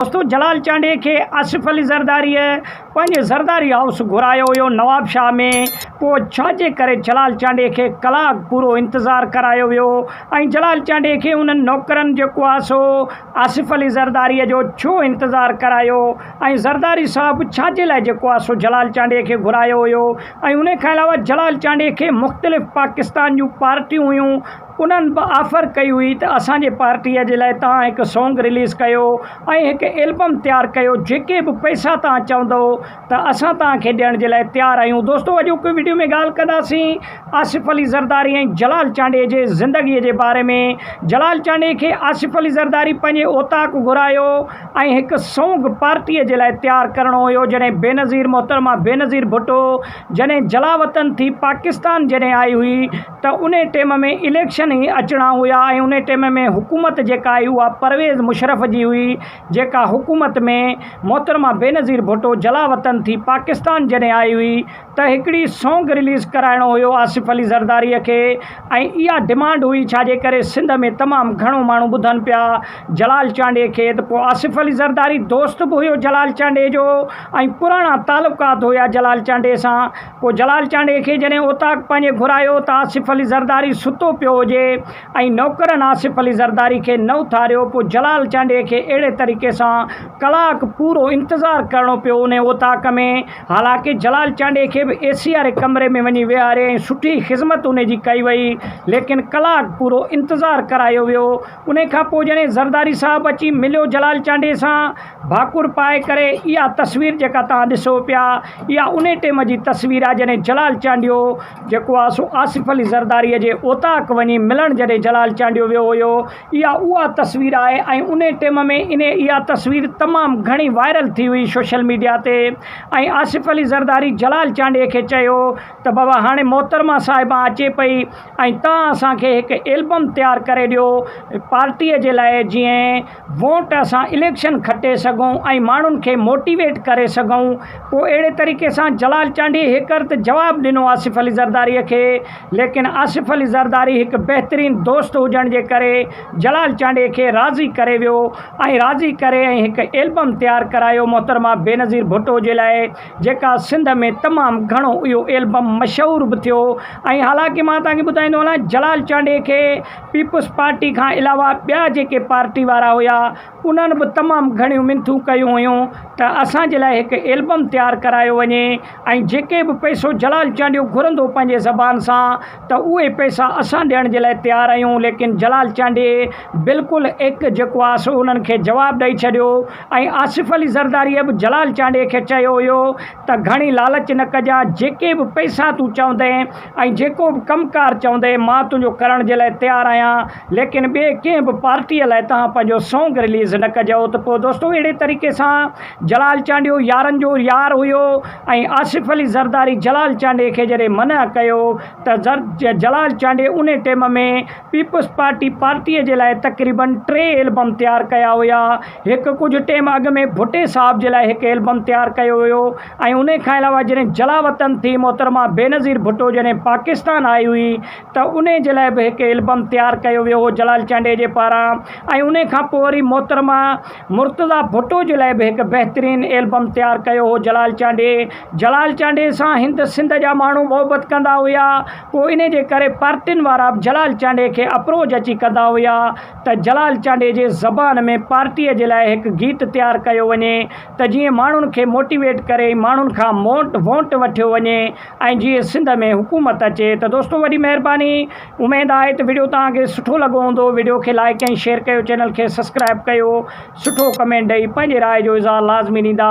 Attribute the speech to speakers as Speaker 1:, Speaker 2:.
Speaker 1: دوستو جلال چانڊيي کي آصف علي زرداريء پنهنجي زرداري هائوس گهرايو هيو نواب شاهه ۾، پوء ڇا جي ڪري جلال چانڊيي کي ڪلاڪ پورو انتظار ڪرايو ويو ۽ جلال چانڊيي کي انهن نوڪرن جيڪو آ سو آصف علي زرداريء جو ڇو انتظار ڪرايو ۽ زرداري صاحب ڇا جي لاء جيڪو آ سو جلال چانڊيي کي گهرايو هيو ۽ انهي کان علاوه جلال چانڊيي کي مختلف پاڪستان جون پارٽيون هيون انهن به آفر ڪئي هئي ته اسان جي پارٽيء جي لاء توهان هڪ سانگ رليز ڪيو ۽ هڪ البم تيار ڪيو، جيڪي به پئسا توهان چوندئو ته اسان توهان کي ڏيڻ جي لاء تيار آهيون. دوستو اڄوڪي وڊيو ۾ ڳالهه ڪنداسين آصف علي زرداري ۽ جلال چانڊئي جي زندگيء جي باري ۾. جلال چانڊئي کي آصف علي زرداري پنهنجي اوطاق گهرايو ۽ هڪ سانگ پارٽيء جي لاء تيار ڪرڻو هيو جڏهن بينظير محترمه بينظير ڀٽو جڏهن جلاوطن ٿي پاڪستان جڏهن آئي هئي ته ان ٽيم ۾ اليڪشن هي اچڻا هيا ۽ ان ٽيم ۾ حڪومت جيڪا هي اها پرويز مشرف جي هئي جيڪا حڪومت ۾ محترمه بينظير ڀٽو جلاوطن ٿي پاڪستان جڏهن آئي هئي ته هڪڙي سونگ رليز ڪرائڻو هيو آصف علي زرداري کي ۽ اها ڊمانڊ هئي ڇا جي ڪري سنڌ ۾ تمام گهڻو ماڻهو ٻڌن پيا جلال چانڊيي کي ته پوء آصف علي زرداري دوست به هيو جلال چانڊيي جو ۽ پراڻا تعلقات هيا جلال چانڊيي سان پوء جلال چانڊئي کي جڏهن اوطاق پنهنجي گهرايو ته آصف علي زرداري ستو پيو هجي ۽ نوڪرن آصف علي زرداري کي نه اٿاريو، پوء جلال چانڊئي کي اهڙي طريقي سان ڪلاڪ پورو انتظار ڪرڻو پيو انهي اوطاق ۾، حالانڪه جلال چانڊئي کي به اي سي واري ڪمري ۾ وڃي ويهاري ۽ سٺي خذمت انهي جي ڪئي وئي، ليڪن ڪلاڪ پورو انتظار ڪرايو ويو، انهيء کان پوء جڏهن زرداري صاحب اچي مليو جلال چانڊيي سان، ڀاڪر پائي ڪري، اها تصوير جيڪا توهان ڏسو پيا، اها انهيء ٽيم جي تصوير آهي، جڏهن جلال چانڊيو جيڪو آهي سو آصف علي زرداريء جي اوطاق وڃي ملڻ جڏهن جلال چانڊيو ويو هيو، اها اها تصوير آهي ۽ انهيء ٽيم ۾ انهيء اها تصوير تمام گهڻي وائرل ٿي هئي سوشل ميڊيا تي ۽ آصف علي زرداري جلال چانڊيي کي چيو ته بابا هاڻي محترمه صاحبان اچي پئي ۽ تان اسان کي هڪ البم تيار ڪري ڏيو پارٽيء جي لاء جيئن ووٽ اسان اليڪشن کٽي سگهون ۽ ماڻهن کي موٽيويٽ ڪري سگهون پوء اهڙي طريقي سان جلال چانڊيي هيڪر ته جواب ڏنو آصف علي زرداريء کي ليڪن آصف علي زرداري هڪ بهترين دوست هجڻ جي ڪري جلال چانڊيي کي راضي ڪري ويو ۽ راضي ڪري ۽ هڪ البم تيار ڪرايو محترمه بينظير ڀٽو جي لاء جيڪا سنڌ ۾ تمام گهڻو اهو ايلبم مشهور به ٿيو ۽ حالانڪه مان توهان کي ٻڌائيندو هلان جلال چانڊيي کي پيپلز پارٽي کان علاوه ٻيا جيڪي پارٽي وارا هيا انهن به تمام گهڻيون منٿون ڪيون هيون ته اسان جي لاء هڪ ايلبم تيار ڪرايو وڃي ۽ جيڪي به پئسو جلال چانڊيو گهرندو پنهنجي زبان سان ته اهي پئسا اسان ڏيڻ جي لاء تيار آهيون ليڪن جلال چانڊيي بلڪل ايڪ جيڪو آهي سو انهن کي جواب ڏئي ڇڏيو ۽ آصف علي زرداريء به جلال چانڊيي کي چيو هيو ته گهڻي لالچ نه ڪجان، جيڪي به پئسا تون چوندين ۽ جيڪو به ڪم ڪار چوندين مان تنهنجو ڪرڻ جي لاء تيار آهيان، ليڪن ٻئي ڪنهن به پارٽيء لاء توهان پنهنجو سونگ رليز نه ڪجو ته پوء دوستو اهڙي طريقي سان جلال چانڊيو يارن جو يار هيو ۽ آصف علي زرداري جلال چانڊيي کي جڏهن منع ڪيو ته جلال چانڊيي انهي ٽيم ۾ پيپلز پارٽي پارٽيء جي لاء تقريباً ٽي البم تيار ڪيا هيا. هڪ ڪجهه ٽيم اڳ ۾ ڀٽي صاحب جي لاء هڪ البم تيار ڪيو هيو ۽ انهيء کان علاوه جڏهن جلاوطن ٿي محترمه بينظير ڀٽو جڏهن پاڪستان آئي هئي ته انهيء جي لاء به هڪ البم تيار ڪيو ويو هو جلال چانڊيجي پاران ۽ انهيء کان پوء وري محترمه مرتضيٰ ڀٽو جي لاء به هڪ بهترين البم تيار ڪيو هو جلال چانڊيي جلال چانڊيي سان هند سنڌ جا ماڻهو محبت ڪندا هيا. پوء انهيء جي ڪري پارٽين وارا به جلال چانڊيي کي اپروچ اچي ڪندا هيا ته جلال چانڊيي جي زبان ۾ پارٽيء جي لاء هڪ گيت تيار ڪيو وڃي ته جيئن ماڻهن کي موٽيويٽ ڪري ۽ ماڻهن کان موٽ وونٽ وٺيو وڃي ۽ جيئن سنڌ ۾ حڪومت اچي ته دوستو وڏي مهرباني اميد آهي ته وڊيو توهان کي سٺو لڳو هوندو وڊيو کي لائيڪ ۽ شيئر ڪيو چينل کي سسڪرائيب ڪيو سٺو ڪمينٽ ڏئي پنهنجي راء جو اظهار لازمي ڏيندا.